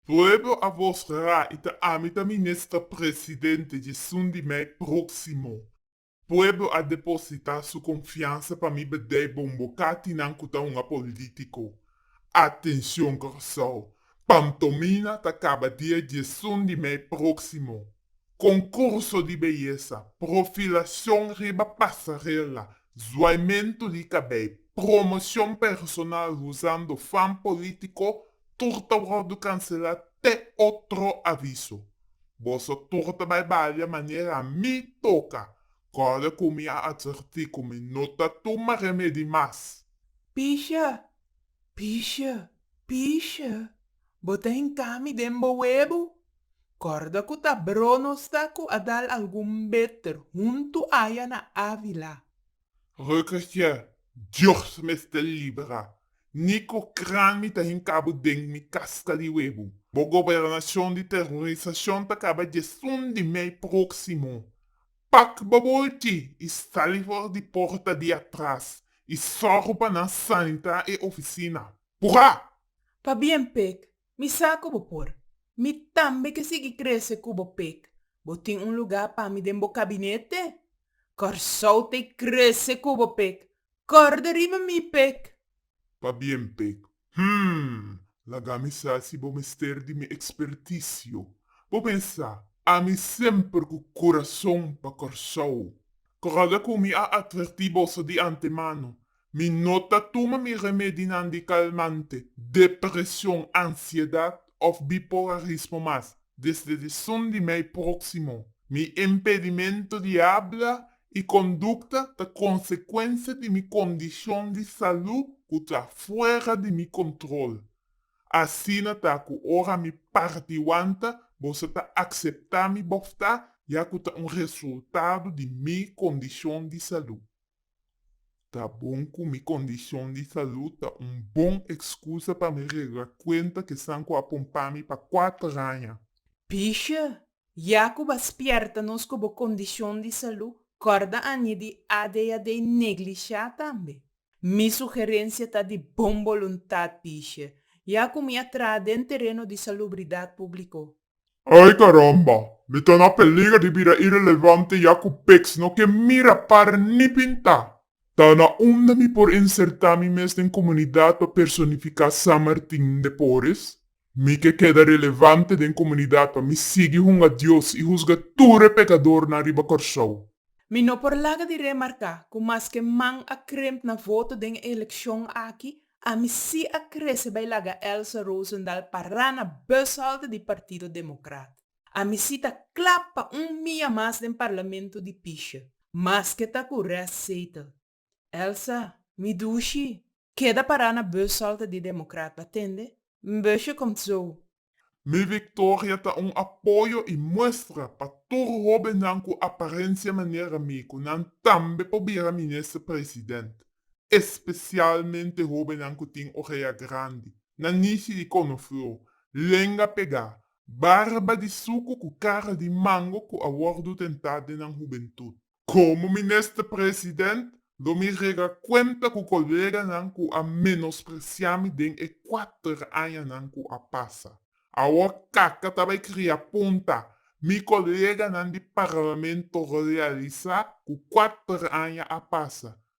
Pueblo a vosgra y ta ami ta minister presidente djesun di mei proximo. Pueblo a deposita su confiansa pa mi bedei bombo cati nan cu ta un apolitico. Atencion Curaçao, Pam Tomina ta caba dia djesun di mei proximo. Konkurso di beyesa, profilacion riba pasarela, zuaimento di cabei, promoción personal huzando fan politico, tur ta wordo cancela te otro aviso. Boso tur ta bai balia manera mi toca, corda cu mi a adverti cu mi no ta tuma remedi mas. Pisha, pisha, pisha, bo ta hinca mi den bo webo. Kòrda ku ta Brono sa ku a dal algun beter huntu aya na Ávila. Rukkertje, Dios mester libra ni ku kran mi ta hinkabo den mi kaska di webu. Bo gobernashon di terorisashon ta kaba djesun di mei próksimo. Pak bo bolchi i sali for di porta di atras i sòru pa nan sanitá e ofisina. Purá! Pabien, Pek, Mi sa ku bo por. Mi tambe ke sigui krese ku bo pek. Bo tin un lugá pa mi den bo kabinete? Kòrsou ta e krese ku bo pek. Kòrda riba mi pek! Pabien pek. Hum! Laga mi sa si bo mester di mi ekspertisio. Bo pensa, ami semper ku kurason pa Kòrsou. Kòrda ku mi a atvertí boso di antemano, Mi no ta tuma mi remedinan di kalmante, depresion, ansiedat òf bipolarismo mas. Desde di Sundi mei próksimo, mi impedimento di habla i kondukta ta konsekuensia di mi kondishon di salú ku ta fuera di mi kontrol. Asina ta ku ora mi parti wanta boso ta akseptá mi bòftá ya ku ta un resultado di mi kondishon di salú. Ta bon ku mi kondishon di salud ta un bon ekskusa pa mi regra kuenta ku esan ku a pon pa mi pa kuater aña. Pisha, Ya ku bo spièrta nos ku bo kondishon di salud, kòrda Annie di ADHD neglishá tambe. Mi sugerensia ta di bon boluntat, Pisha, ya ku mi a traha den tereno di salubridat públiko. Ay caramba! Mi ta na peliger di bira irelevante ya cu peks no ke mira para ni pinta. Ta na unda mi por inserta mi mes den comunidad pa personifica San Martin de Porres? Mi ke keda relevante den comunidad pa mi sigui hunga Dios y huzga tur e pecadornan riba Corsou. Mi no por laga di remarca cu maske man a kremp na voto den e eleccion aki, Ami si a krese bai laga Elsa Roosendaal pará na bushalte di Partido Democrat. Ami si ta kla pa un mia mas den Parlamento di pisha, maske ta ku restzetel. Elsa, mi dushi, keda pará na bushalte di Democrat, bo a tende? M'bushe komtzo? Mi victoria ta un apoyo y muestra pa tur hobennan cu aparencia manera mi cu nan tambe por bira minister president, especialmente hobennan cu tin orea grandi, nanishi di conoflor, lenga pega, barba di sucu cu cara di mango cu a wordo tenta den nan hubentud. Komo Minister President, lo mi rega kuenta ku koleganan ku a menospresiá mi den e kuater añanan ku a pasa. Awor kaka ta bai kria punta, mi koleganan di Parlamento realisá ku kuater aña a pasa,